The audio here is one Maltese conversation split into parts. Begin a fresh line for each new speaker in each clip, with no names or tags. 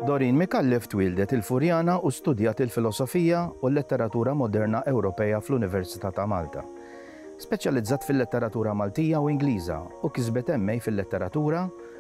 Doreen Micallef twieldet il-Furjana u studjat il-Filosofija u l-Letteratura Moderna Ewropea fl-Università ta' Malta. Speċjalizzat fil-Letteratura Maltija u Ingliża u kisbet MA fil-Letteratura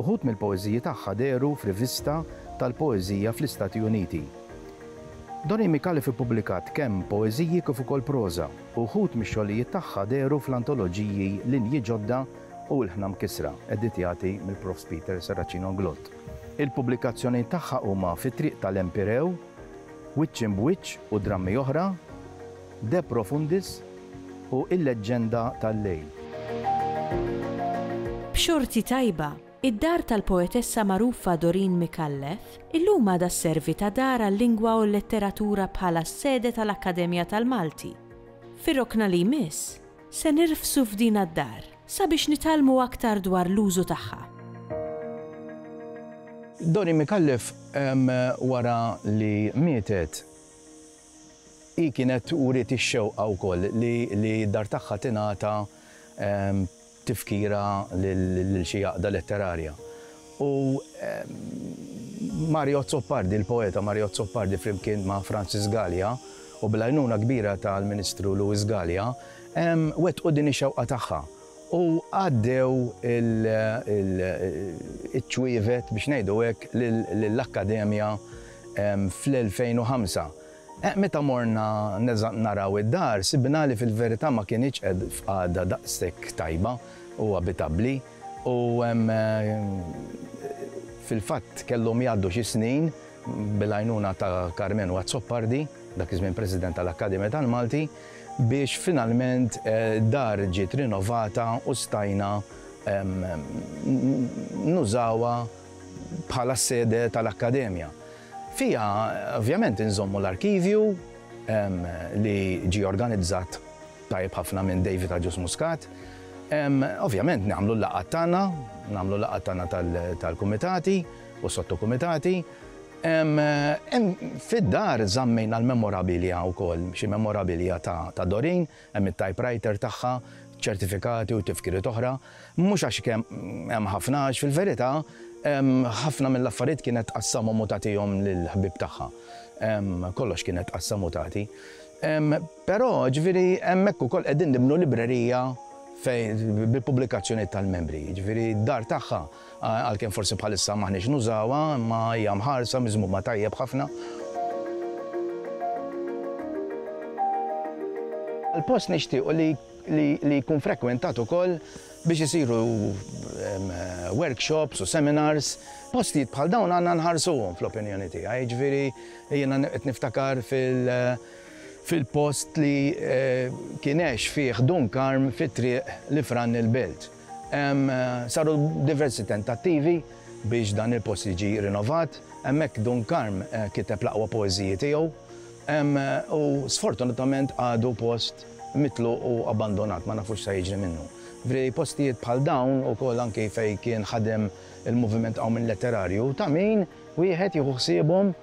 Uħud mill-poeżiji tagħha dehru f'rivista tal-poeżija fl-Istati Uniti. Doni Micallef ippubblikat kemm poeżiji kif ukoll proża, u wħud mix-xogħlijiet tagħha dehru fl-antoloġiji Linji Ġodda u Ilħna Mkissra, editjati mill-Profs Peter Serracino Glott. Il-pubblikazzjonijiet tagħha huma Fit-Triq tal-Empirew, Wiċċ Imb'Wiċċ u drammi oħra. De Profundis u Il-Leġġenda tal-Lejl.
B'xorti tajba, id-dar tal-poetessa magħrufa Doreen Micallef illum għadha sservi ta' dar għal-lingwa u l-letteratura bħala s-sede tal-Akkademja tal-Malti. Fir-rokna li jmiss, se nirfsu f'dina d-dar sabiex nitgħallmu aktar dwar l-użu tagħha.
Doreen Micallef wara li mietet Hi kienet uriet ix-xewqa wkoll li li d-dar tagħha tingħata tifkira lil xi għaqda letterarja. U Mario Azzopardi, il-poeta Mario Azzopardi flimkien ma' Francis Galea u bl-għajnuna kbira tal-Ministru Louis Galea, wettqu din ix-xewqa tagħha u għaddew iċ-ċwievet, biex ngħidu hekk, lill-Akkademja fl-2005. Meta morna naraw id-dar, sibna li fil-verità ma kinitx f'qagħda daqshekk tajba u abitabbli u fil-fatt kellhom jgħaddu xi snin, bil-għajnuna ta' Karmenu Azzopardi, dak iż-żmien President tal-Akkademja tal-Malti, biex finalment d-dar ġiet rinovata u stajna nużawha bħala s-sede tal-Akkademja. Fiha ovvjament inżommu l-arkivju li ġie organizzat tajjeb ħafna minn David Agius Muscat. Ovvjament nagħmlu l-laqgħat tagħna, nagħmlu l-laqgħat tagħna tal-kumitati u s-sottokumitati. Fid-dar żammejna l-memorabilia wkoll, xi memorabilia ta' Doreen, hemm it-typewriter tagħha, ċertifikati u tifkiriet oħra. Mhux għax hemm ħafna għax fil-verità ħafna mill-affarijiet kienet tqassamhom u tagħtihom lill-ħbieb tagħha. Kollox kienet tqassam u tagħti. Però, ġifieri, hemmhekk ukoll qegħdin nibnu librerija bil-pubblikazzjonijiet tal-membri. Ġifieri d-dar tagħha. Għalkemm forsi bħalissa m'aħniex nużawha, imma hija mħarsa, miżmuma tajjeb ħafna. Il-post nixtiequ li jkun frekwentat ukoll biex isiru workshops u seminars. Postijiet bħal dawn għandna nħarsuhom fl-opinjoni tiegħi. Jiġifieri jiena qed niftakar fil-post li kien għex fih Dun Karm fi Triq L-Ifrann il-Belt. Saru diversi tentattivi biex dan il-post jiġi rinovat. Hemmhekk Dun Karm kiteb l-aqwa poeżiji tiegħu u sfortunatament għadu post mitluq u abbandonat, ma nafux x'se jiġri minnu. Vri postijiet bħal dawn ukoll anki fejn kien ħadem il-moviment hawn minn letterarju ta' min wieħed jieħu ħsiebhom.